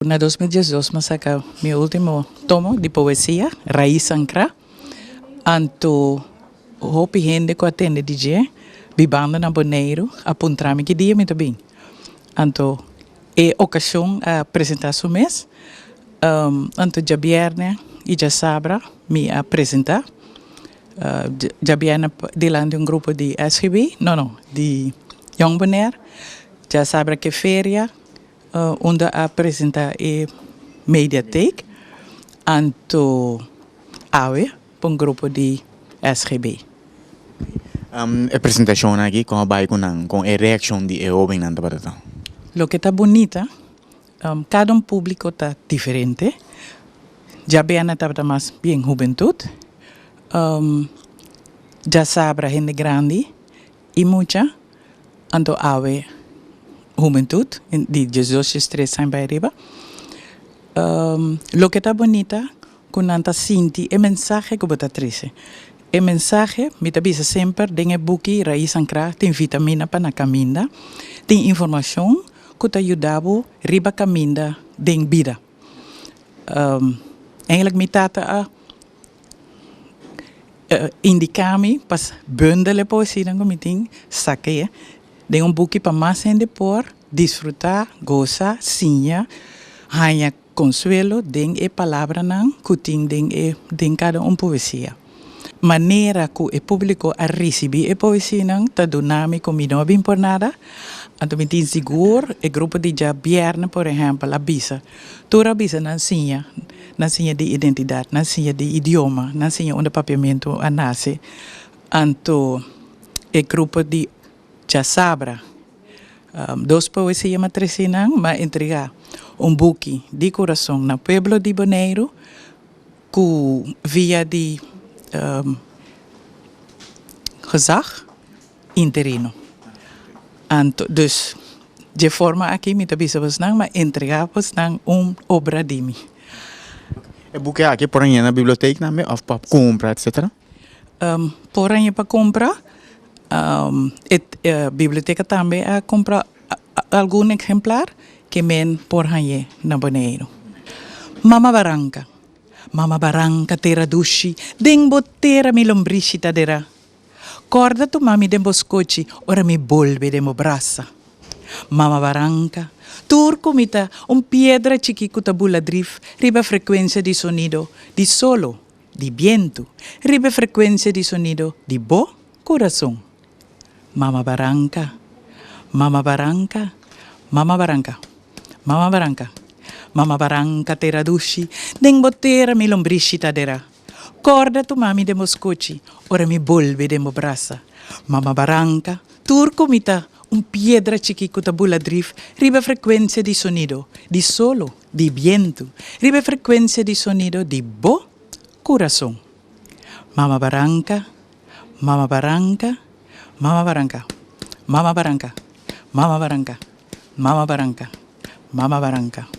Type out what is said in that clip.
Na dos mil diesdos mi a saka mi ultimo tomo di poesia, Rais Ancra. Anto hopi hende ku a tende di dje bibando na Boneiru a puntra mi ki dia mi ta bin. Anto e okashon a presentá su mes. Anto djabièrnè i djasabra mi a presentá. Djabièrnè dilanti di un grupo di SGB, no no di Jong Bonèr. Djasabra ke feria. Unda a presenta e mediatheek anto awe pa un grupo di SGB. E presentacion aki con a bay cu nan, con e reaccion di e hobennan tabata ta? Loke ta bunita, cada un publico ta diferente, djabeana tabata mas bien hubentud, djasabra hende grandi. I mucha, anto awe humentut, di diesdos ches tres aña bai riba, loke ta bunita ku nan ta sinti e mensahe ku bo ta trese. E mensahe, mi ta bisa semper, den e buki Raiz Ancra tin vitamina pa na kaminda, tin informashon ku ta yuda bo riba kaminda den bida. Eindelijk mi tata a Indiká mi pa bundel e poesianan ku mi tin sak'é den un buki pa mas hende por disfrutá, goza, siña, haña konsuelo den e palabranan ku tin den e den kada un poesia. Manera ku e públiko a risibí e poesianan ta duna mi ku mi no a bin por nada, anto mi tin sigur e grupo di djabièrnè, por ehèmpel, a bisa. Tur a bisa nan siña. Nan siña di identidat, nan siña di idioma, nan siña unda Papiamentu a nase, anto e grupo di Chasabra, dos p'e oe se yama Tresí nan, m'a entregá un buki di kurason na pueblo di Boneiru ku via di gezag, interino. Anto, dus, dje forma aki mi ta bisa bos nan ma entrega bos nan un obra di mi. E buki aki por hañ'é na biblioteknan be òf pa kumpra etsetera? Por hañ'é pa kumpra. E biblioteka tambe a kumpra algun eksemplar ke men por hañ'é na Boneiru. Mama baranka, mama baranka tera dushi, den bo tera mi lombrishi ta dera. Kòrda tuma mi den bo skochi ora mi bolbe den bo brasa. Mama Baranka, tur ku mi ta un piedra chikí ku ta bula drif riba e frekuensia di sonido di solo, di bientu, riba e frekuensia di sonido di bo kurason. Mama Baranka, Mama Baranka, Mama Baranka, Mama Baranka, Mama Baranka tera dushi den bo tera mi lombrishi ta adera. Corda tu mami den bo scuchi ora mi bolbe den bo brasa. Mama Baranca, tur cu mi ta un piedra chiqui cu ta bula drif riba e frecuencia di sonido di solo, di bientu, riba e frecuencia di sonido di bo curason. Mama Baranca, Mama Baranca, Mama Baranca, Mama Baranca, Mama Baranca, Mama Baranca, Mama Baranca.